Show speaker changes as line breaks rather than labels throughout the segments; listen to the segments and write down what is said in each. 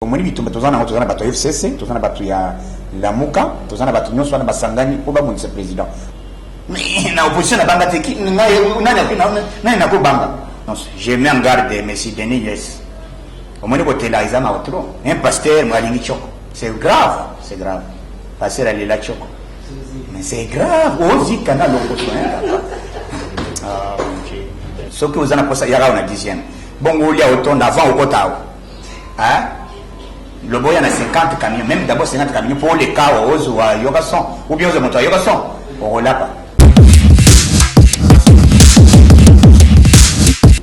omoni bitumba toza nango toza na bato ya fcc toza na bato ya lamuka toza na bato nyonso wana basangani mpo babundisa président na opposition na banga te nani nakobanga je mets en garde messi denis yes omoni kotela eza mawa trop un pasteur mo alingi tioko c'est grave c'est grave pasteur alela tioko mais c'est grave ozika na lokoso soki oza na posa yaka awa na dixième bongo olia otonda avant okota awa Hein? Loboya na 50 camions, même d'abord 50 camions pour les cas où ozo wa yoka son ou bien ozo moto yoka son, orolapa.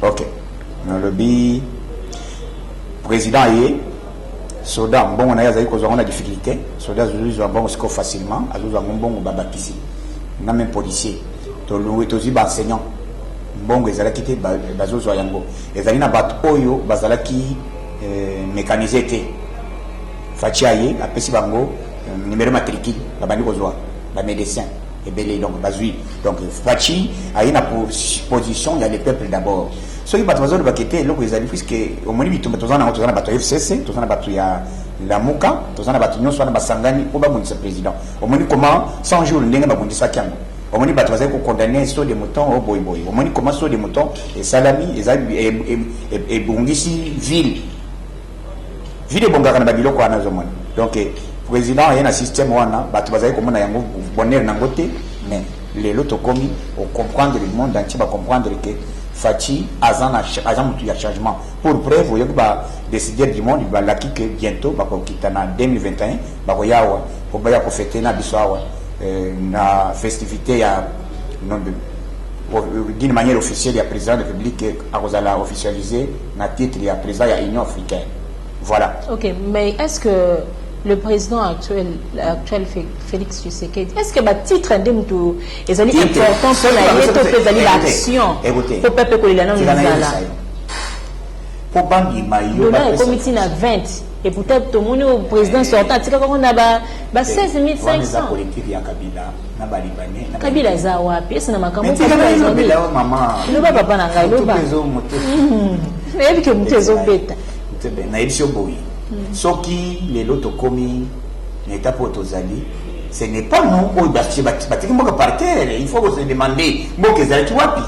OK. Nalobi président ye soda mbongo na ye azali kozwa ngo na difficulté soda azwi zwa mbongo sikoyo facilement azwi zwa ngo mbongo babakisi na même policier tolongwe tozwi baenseignant mbongo ezalaki te bazozwa yango Ezali na bato oyo bazalaki eh, mekanize te. Faci aye apesi bango eh, numero matricule, babandi kozwa bamedecin ebele, donc bazwi. Donc Faci aye na position ya le peuple d'abord. Soki bato bazolobaka ete eloko ezali puisque omoni bitumba toza nango, toza na bato ya FCC, toza na bato ya lamuka, toza na bato nyonso wana basangani mpo babundisa président. Omoni comment 100 jours ndenge babundisaki yango Omoni bato bazali ko condamner saut de mouton oyo boye boye. Omoni comment saut de mouton esalami, ezali ebongisi ville. Ville ebongaka na ba biloko wana ozo mona. Donc president aye na système wana, bato bazali komona yango bonheur na ngo te mais lelo tokomi o comprendre le monde entier ba comprendre que Fatshi aza na aza mutu ya changement. Pour preuve oyoki ba decideurs du monde balaki que bientot bakokita na 2021 Bakoya awa po baya ko feter na biso awa na festivite ya d'une manière officielle ya president de publique akozala officialise na titre ya president ya Union africaine voilà. Ok mais est-ce que le président actuel, actuel Félix Tshisekedi, est-ce que ba titre nde mutu ezali important mpo na ye to mpe ezali baaction mpo pepe kolela nano ezala mpo bandima yo ekomi ntina 20 Et pourtant tomoni au président sortant atikaka ngo na ba ba 16500. politique ya Kabila na ba libanais. Kabila aza wapi? Esa na makambo Kabila aza wapi? Mama. Loba papa na ngai loba. Hmm. Nayebi ke moto ezobeta. Nayebi sio boyi. Hmm. Soki lelo tokomi na etape oyo tozali ce n'est pas nous oyo batiki mboka par terre il faut ko se demander mboka ezalaki wapi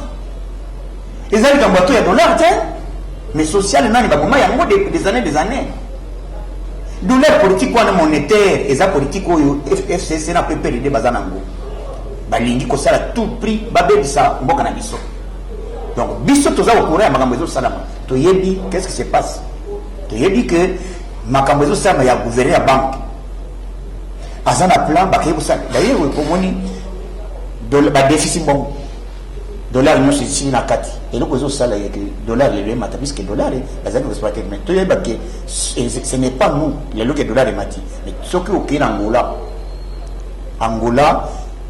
Eza likambo ya to ya dollar te. Mais social nani baboma yango depuis des années des années. Douleur politique wana monétaire eza politique oyo FCC na PPRD baza nango. Balingi kosala tout prix babebisa mboka na biso. Donc biso toza au courant ya makambo ezo salama. Toyebi qu'est-ce qui se passe. Toyebi que makambo ezo salama ya gouverneur ya banque. Aza na plan bakei kosala. D'ailleurs, omoni ba déficit bongo. Dollar nionso esili na kati. Eloko ezo sala ye que dollar lelo emata puisque dollar bazali ko exploiter mais to yeba que ce n'est pas nous lelo que dollar emati mais soki okeyi na Angola Angola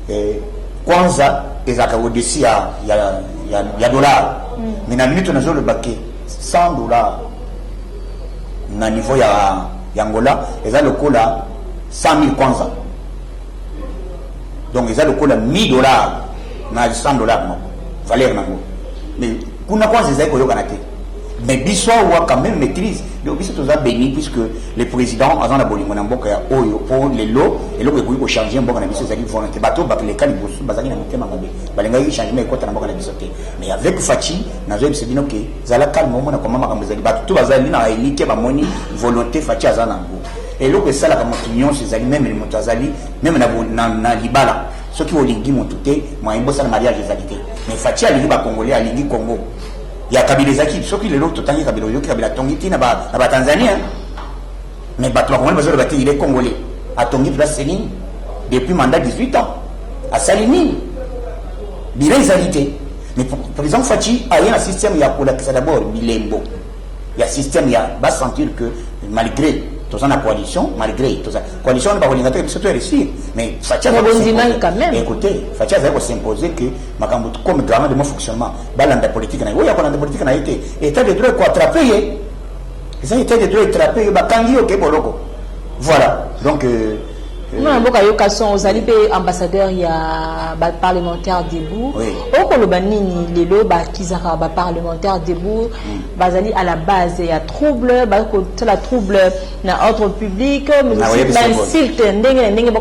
eh, kwanza ezalaka au-dessus ya, ya, ya, ya dollar mm. mais na minute nazoloba ke 100 dollar na niveau ya, ya Angola eza lokola 100 000 kwanza donc eza lokola 1000 dollars na 100 dollars moko valeur nango mais kuna kwanza ezali koyokana te mais biso awa quand même maîtrise donc biso toza béni puisque le président aza na bolingo na mboka ya oyo mpo lelo eloko ekoki kochange mboka na biso ezalaki volonté bato bato leka liboso bazalaki na motema mabe balingaki changement ekota na mboka na biso te mais avec faci nazoyebisa bino ke zala calme omona koma makambo ezali bato to bazali na elike bamoni volonté faci aza na yango Eloko esalaka moto nyonso ezali meme moto azali meme na, na, na libala soki olingi moto te moyen bosala mariage ezali te mais Fatshi alingi ba congolais alingi Congo ya Kabila ezaki soki lelo totangi Kabila oyoki Kabila atongi ti na ba, na ba Tanzania mais bato bakongoli bazoloba te il est congolais atongi place nini depuis mandat 18 ans asali nini bila ezali te mais président Fatshi aye na système ya kolakisa d'abord bilembo ya système ya ba sentir que malgré toza na coalition malgré toza coalition wana bakolinga te biso toeresir mais fatia écoute fatia azali kosimpose que makambo comme garant de mon fonctionnement balanda politique na ye oyo akolanda politique na ye te état de droit ekoatrape ye eza état de droit etrape ye bakangi yo ke boloko voilà donc euh, mwana
mboka yoka son ozali mpe ambassadeur ya baparlementaire debout okoloba nini lelo bakizaka baparlementaire debout hmm. bazali à la base ya trouble baza kosala trouble na ordre public bainsulte ah, ndenge na ndenge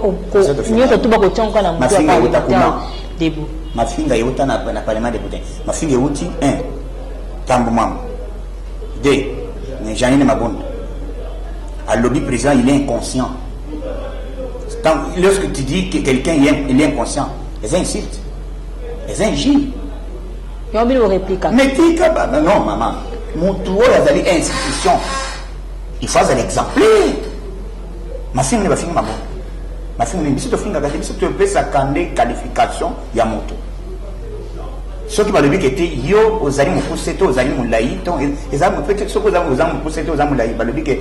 nyonso to bakotiangoka na moto ya parlementaire debout mafinga euta
na parlement depute mafinga euti un tambo mama De mais Janine Mabunda alobi président il est inconscient. Quand, lorsque tu dis que quelqu'un il est inconscient, eza insulte, eza injure.
Yo bino replique. Mais tika ba
non maman, mutu oyo azali institution. Il faut azali exemplaire. Mafinga ne bafinga mabunda. Mafinga ne biso tofingaka te biso topesaka nde qualification ya moto soki balobi ke te yo ozali mokuse to ozali molai to eza peut-être soki oza oza mokuse to oza molai balobi ke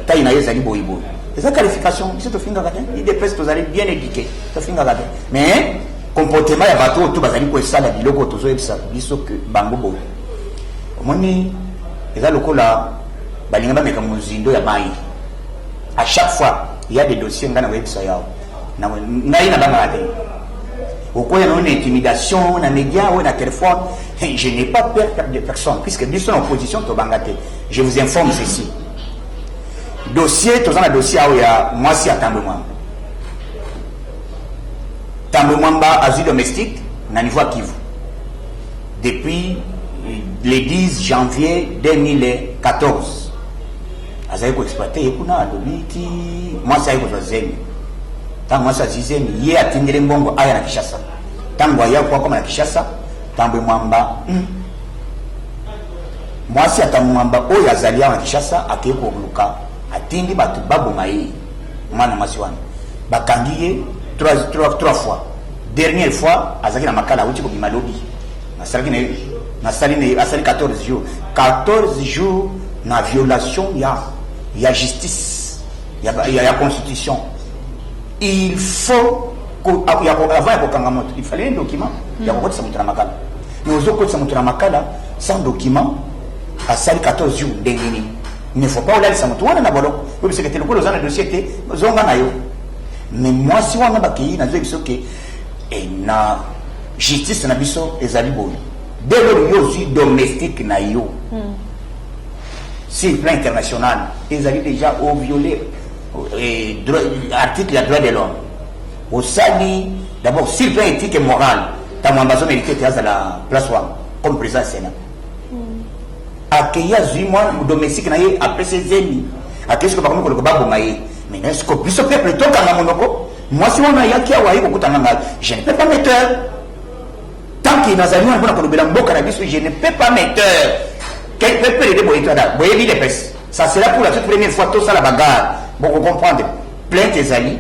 taille na yo ezali boye boye eza qualification biso tofingaka te idps tozali bien éduqué tofingaka te mais comportement ya bato oyo to bazali kosala biloko tozoyebisa biso ke bango boye omoni eza lokola balinga bameka mozindo ya mai à chaque fois il y a des dossiers ngai nakoyebisa yawa Na ngai na banga te. Okoya na une intimidation na média ou na téléphone. Je n'ai pas peur de personne puisque biso na opposition to banga te. Je vous informe ceci. Dossier toza na dossier awo ya mwasi ya Tambo Mwamba. Tambo Mwamba azwi domestique na niveau ya Kivu. Depuis le 10 janvier 2014 azali ko exploite ye kuna alobi ti mwasi aye kozwa zemi ntango mwasi azwi zemi ye atindeli mbongo aya na kishasa ntango aya ko akoma na kishasa tambwe mwamba hmm. mwasi ata mwamba oyo azali awa na kishasa akei koluka atindi bato baboma ye mwana mwasi wana bakangi ye trois fois dernière fois azalaki na makala auti kobima lobi Asalaki na ye nasali na ye asali 14 jours 14 jours na violation ya ya justice ya, ya, ya constitution il faut ko, ya, ya, avant ya kokanga moto il fallait un document mm. ya kokotisa moto na makala mais ozokotisa moto na makala sans document asali 14 jours ndenge nini mais faut pas olalisa moto wana na boloko oyebisaka te lokola oza na dossier te zonga na yo mais mwasi wana bakei nazoyebisa oke okay, ena Justice na biso ezali boye. Dès lors yo ozwi domestique na yo hmm. sur plan international ezali déjà au violer eh, article ya droit de l'homme osali d'abord sur plan éthique et morale ntango ambazo mérite te azala place wana comme président sénat hmm. akei azwi mwana domestique na ye apesi zemi akei soki bakomi koloka baboma ye mais est ce que biso peuple tokanga monoko Mwasi wana ayaki awa aye kokutana ngai, je ne peux pas me taire tant que nazali wana mpona kolobela mboka na biso, je ne peux pas me taire quelque peu de boye tada boyebi les pes ça sera pour la toute première fois tosala bagarre boko comprendre plainte ezali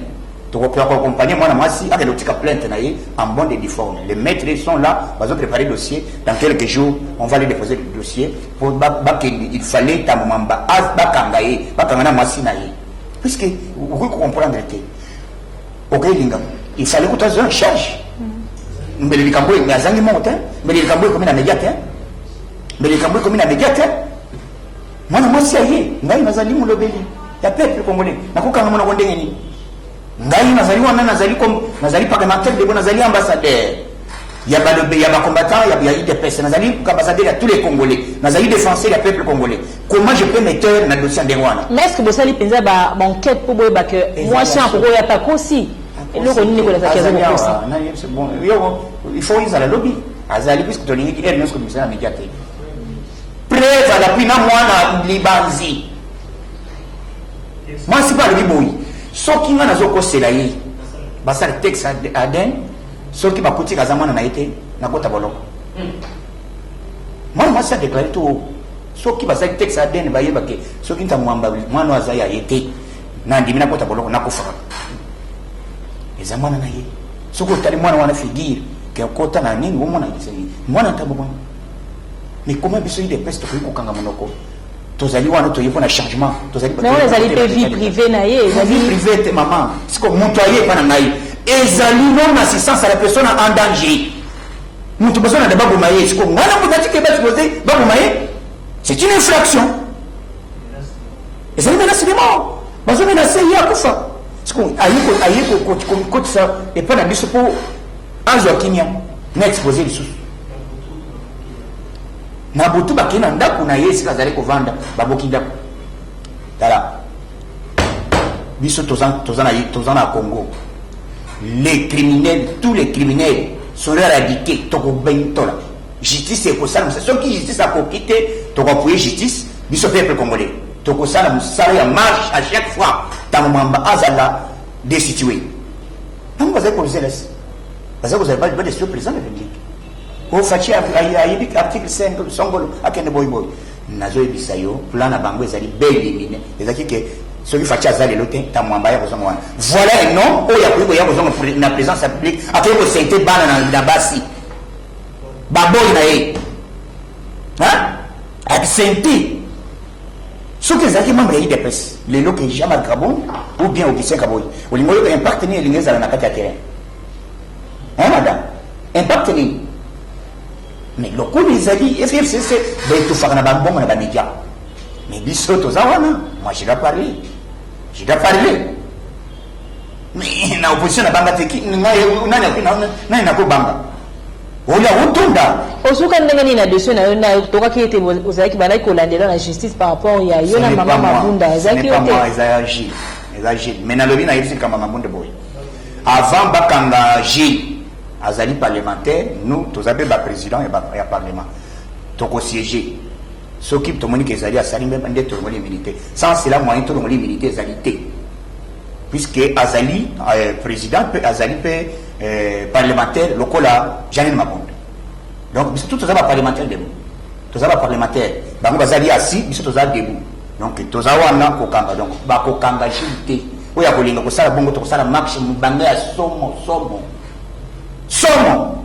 tokokoka koaccompagne mwana mwasi akende otika plainte na ye en bon de difforme les maîtres sont là bazo préparer dossier dans quelques jours on va les déposer le dossier po bakende il fallait ntango mamba bakanga ye bakanga na mwasi na ye Puisque okoki ko comprendre te. Okoki linga. Il fallait que tu aies un charge. Mm. Mais les cambois, mais azangi monte, hein. mais les cambois comme na médiate, hein. Mais les cambois comme na médiate, hein. Mwana mwasi aye, ngai nazali mulobeli ya peuple congolais. Nakokanga mwana ko ndenge nini? Ngai nazali wana nazali comme nazali parlementaire de nazali ambassadeur ya ba ya ba combattants ya ya UDPS nazali ambassadeur ya tous les congolais nazali défenseur ya peuple congolais comment je peux me taire na dossier de wana mais est-ce que bosali penza
ba enquête pour boyeba que moi si akoko ya takosi eloko nini ko lazaki azali kosa na yebse bon
yo il faut izala lobby azali puisque tolingi ki ernesto komisana media te preuve à l'appui na mwana libanzi mwasi pe alobi boye soki nga nazokosela ye basala tex aden soki bakutika aza mwana na ye te nakota boloko mwana mwasi adeklare to soki basali tex aden bayeba ke soki ntango mwamba mwana oyo aza ya ye te nandimi nakota boloko nakufaka eza mwana na ye soki otali mwana wana figure ke okota na nini omona mwana ntango mwana mikoma biso idepesi tokoki kokanga monoko tozali wana toye mpo na changement tozali mais wana ezali mpe vie
privée na ye ezali vie privée te
maman siko moto aye epa na ngai ezali non assistance à la personne en danger moto bazo na deba boma ye siko ngai na moto atike basi boze baboma ye c'est une infraction ezali menace de mort bazo menace ye akufa siko aye kokotisa epa na biso mpo azwa kimia na expose lisusu Na butu bakei na ndako na ye esika azali kovanda, babuki ndako. Tala, biso toza, toza, na, toza na Congo. Les criminels, tous les criminels sont éradiqués, tokobentola. Justice ekosala mosala. Soki justice akoki te, tokoapuye justice, biso peuple congolais. Tokosala mosala ya marche à chaque fois. Tango mamba azala destitué. Tango bazali kozela, bazali kozela ba, ba destitué président de la République. Oyo Fatshi ayebi que article 5 songolo akende boyi boyi. Nazo yebisa yo plan na bango ezali bel limine ezaki que soki Fatshi aza lelo te ta mwamba ya kozonga wana. Voilà un homme oyo akoki koya kozonga na présence ya public akoki ko sainte bana na, na basi baboyi na ye hein? absenti soki ezalaki membre ya idps lelo ke jean marc kabon ou bien augustin kaboyi olingi oyoka impact nini elingi ezala na kati ya terrain Hein madame? Impact nini? Mais lokola ezali FFCC baetufaka na bambongo na ba media. Mais biso toza wana, moi je dois parler. Je dois parler. Mais na opposition na banga te ki ngai nani akuna nani nako banga. Oya otonda. Osuka ndenge nini na
dossier na yo na tokaki ete ozalaki balaki kolandela na justice par rapport ya yo na mama Mabunda ezalaki yo te. Ezalaki Gilles. Ezalaki
Gilles. Mais nalobi na yebisi kamba Mabunda boye. Avant bakanga Gilles azali parlementaire nous toza pe ba president ya, ba, ya parlement toko siège soki tomoni ke ezali asali mbe nde tolongoli immunité sans cela moyen tolongoli immunité ezali te puisque azali euh, président mpe azali mpe euh, parlementaire lokola janine mabondo donc biso tout toza baparlementaire debout toza baparlementaire bango baza liasi biso toza debout Donc toza wana kokanga donc bakokanga Gilles te oyo akolinga kosala bongo tokosala marche mobange ya somo somo somo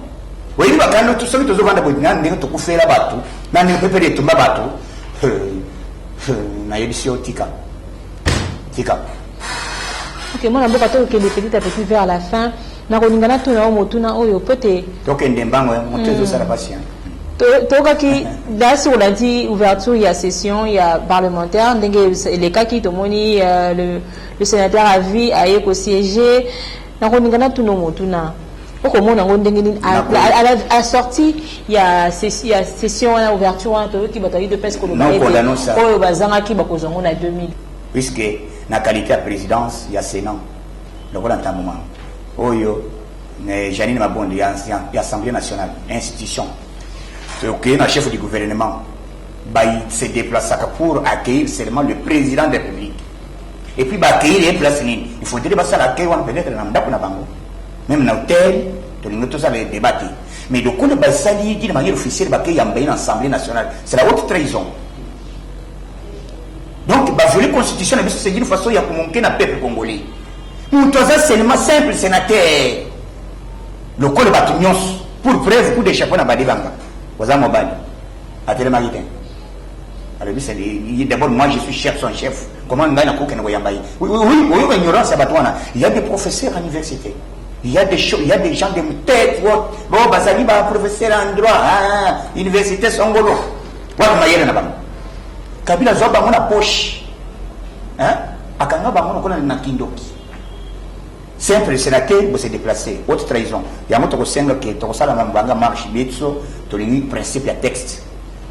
oyebi bakando tu- soki tozovanda boye na ndenge tokufela bato na ndenge pepele etumba bato Eh, eh, nayebisi yo tika tika
Ok, moi d'abord, quand on est petit à petit vers la fin, Nakolinga natuna yo motuna oyo mpo ete tokende mbango ya
moto ezosala mpasi hmm. toyokaki
dasi olandi ouverture ya session ya parlementaire ndenge elekaki tomoni euh, le, le sénateur à vie aye kosiége nakolinga natuna motuna okomona yango ndenge nini asorti ya session wana ouverture wana toyoki bato ya udps koloba oyo bazangaki bakozwa yango na 2000 puisque
na qualité ya présidence ya sénat lokola ntango mwa oyo eh, Janine Mabondo ya, ya, ya Assemblée nationale institution tokeyi na chef du gouvernement bayi se déplaçaka pour accueillir seulement le président de la République et puis baaccueillir ye place nini il faudrait basala accueil wana peut-être na ndako na bango même na hôtel tolingi tosala débat te mais lokola basali ye de manière officielle bakeyamba ye na assemblée nationale c'est la haute trahison Donc ba violer constitution na biso c'est une façon ya komonke na peuple congolais. Moto aza seulement simple sénateur. Lokola bato nyonso pour preuve coup de chapeau na badibanga oza mobali atelemaki te alobisa d'abord moi je suis chef son chef comment ngai nakokende koyamba ye oyoka ignorance ya bato wana il y a des professeurs à l'université il y a des choses, il y a des gens de tête haute bon bazali ba professeur en droit hein, université songolo Wana mayele na bango. Kabila azwa bango na poche. Hein? Akanga bango lokola na kindoki. Simple, c'est la terre, vous se déplacer. Haute trahison. Yango tokosenga ke tokosala na mbanga marche bietso tolingi principe ya texte.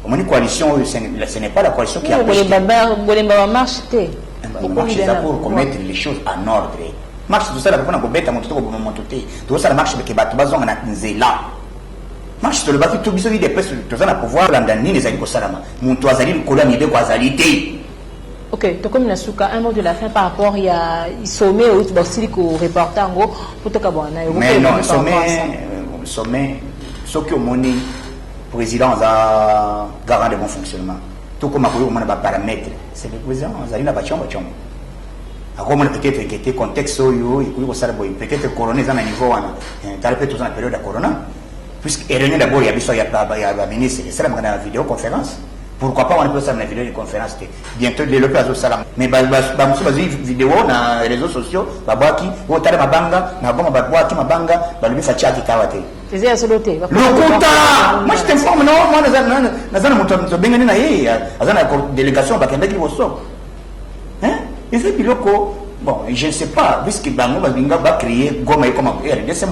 Omoni coalition oyo ce n'est pas la coalition qui a pêché. Bolemba
ba marche te. Eh ben, marche
eza pour commettre les choses en ordre. Marche tosala mpona kobeta moto to koboma moto te. Tokosala marche ke bato bazonga na nzela. Marche tolobaki to biso udps toza na pouvoir landa nini ezali kosalama moto azali likolo ya mibeko azali te ok tokomi
na suka un mot de la fin par rapport ya sommet oyo basili koreporte yango mpo tokabwana na yo mais non sommet
sommet soki omoni président aza garant de bon fonctionnement tokoma koyokomona baparamètre c'est le président azali na bacombo combo Ako mona peut être que te contexte oyo ekoki kosala boye peut être corona eza na niveau wana eh, tala pe toza na periode ya corona puisque réunion d'abord ya biso ya ba ministre esalamaka na video conférence pourquoi pas wana pe osala na video de conférence te bientôt lelo pe azosala mais bamosusu bazwi video na réseaux sociaux babwaki otala mabanga na goma babwaki mabanga balobi faci akitawa te eza ya solo te
lokuta
moi je t'informe non moi naza na moto tobengani na ye aza na délégation bakendaki liboso hein eza biloko bon je ne sais pas puisque bango balinga ba créer goma ekoma rdc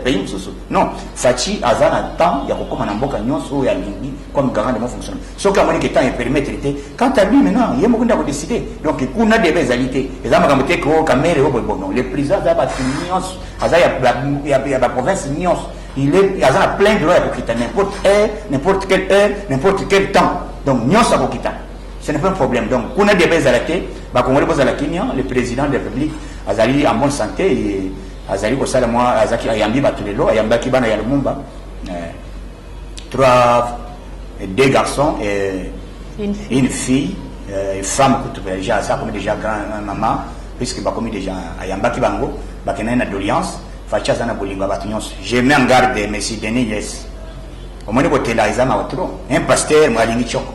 pays mosusu non faci aza na temps ya kokoma na mboka nyonso oyo alingi comme garant de mon fonctionnement soki amoni ke temps epermettre te quant à lui maintenant ye moko nde akodeside donc kuna deba ezali te eza makambo te ko kamere oyo boyebono le président aza bato nyonso aza ya baprovince nyonso il est aza na plein droit ya kokita n'importe heure n'importe quelle heure n'importe quel temps donc nyonso akokita Ce n'est pas un problème. Donc, kuna débat ezala te, ba Congolais bozala kimia, le président de la République azali en bonne santé et azali kosala mwa azaki ayambi bato lelo, ayambaki bana ya Lumumba. Euh, trois deux garçons et une fille, une fille euh, femme kutu déjà ça comme déjà grand euh, maman puisque bakomi déjà ayambaki bango bakendaki na doléance faci aza na bolingo ya bato nyonso je mets en garde monsieur denis yes omoni kotela eza mawa trop un pasteur mwalingi tioko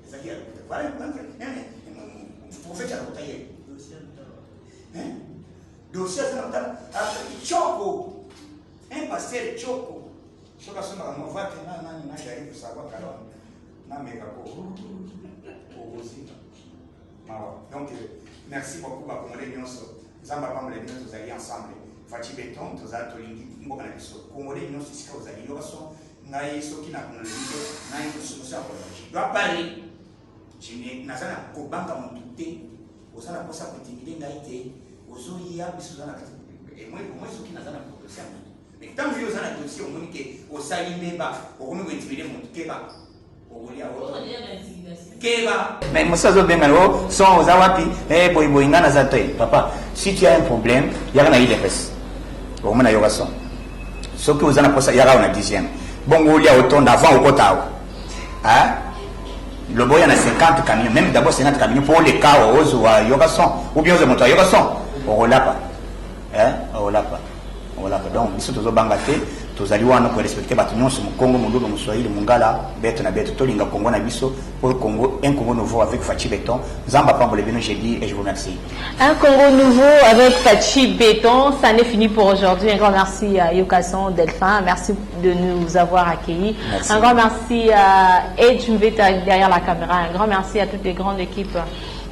ezalaki ya lokuta vala lokuta profete ya lokuta ye dossier aza na lokuta coko un pasteur coko soki asomaka mova te na nani na jari kosakwa kala nameka ko okozika mawa donc merci beaucoup bakongole nyonso nzambe apambole bino tozali ensemble faci beton tozala tolingi mboka na biso kongole nyonso esika ozali yoka son ngai soki na kuna lelite ngai mosusu ya kola je dois parler je ne naza na kobanga motu te oza na posa kotimide ngai te ozoya biso oza na kati emoi omoi soki naza na dosie ya motu mais ntango yo oza na dosie omoni ke osali mbeba okomi kointimide motu keba keba mais mosi azobengana o oh, son oza wapi e eh, boyiboyi ngai naza te papa si tu as un problème yaka na idps omona yoka son soki oza na mposa yaka awa na dixième bongo olia otonda avant okota awa loba oya na 50 camion même d'abord 50 camion mpo oleka awa ozwa yoka son ou bien ozwa moto ayoka son okolapa eh olapa olapa donc biso tozobanga te tozali wana korespecte bato nyonso mokongo moluba moswahili mongala bete na bete tolinga kongo na biso oyo congo un congo nouveau avec faci beton nzambe apambole bino je dis et je vous remercie un congo
nouveau avec faci beton ça n'est fini pour aujourd'hui un grand merci à yokason delphin merci de nous avoir accueillis merci. un grand merci à edge mveta derrière la caméra un grand merci à toutes les grandes équipes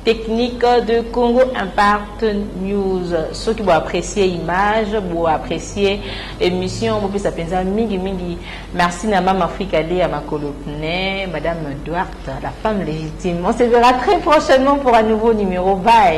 Technique de Congo Impact News. Soki bo apprécier image, bo apprécier émission, bo pesa penza mingi mingi. Merci na Mama Africa de ya makolo pne, Madame Duarte, la femme légitime. On se verra très prochainement pour un nouveau numéro. Bye.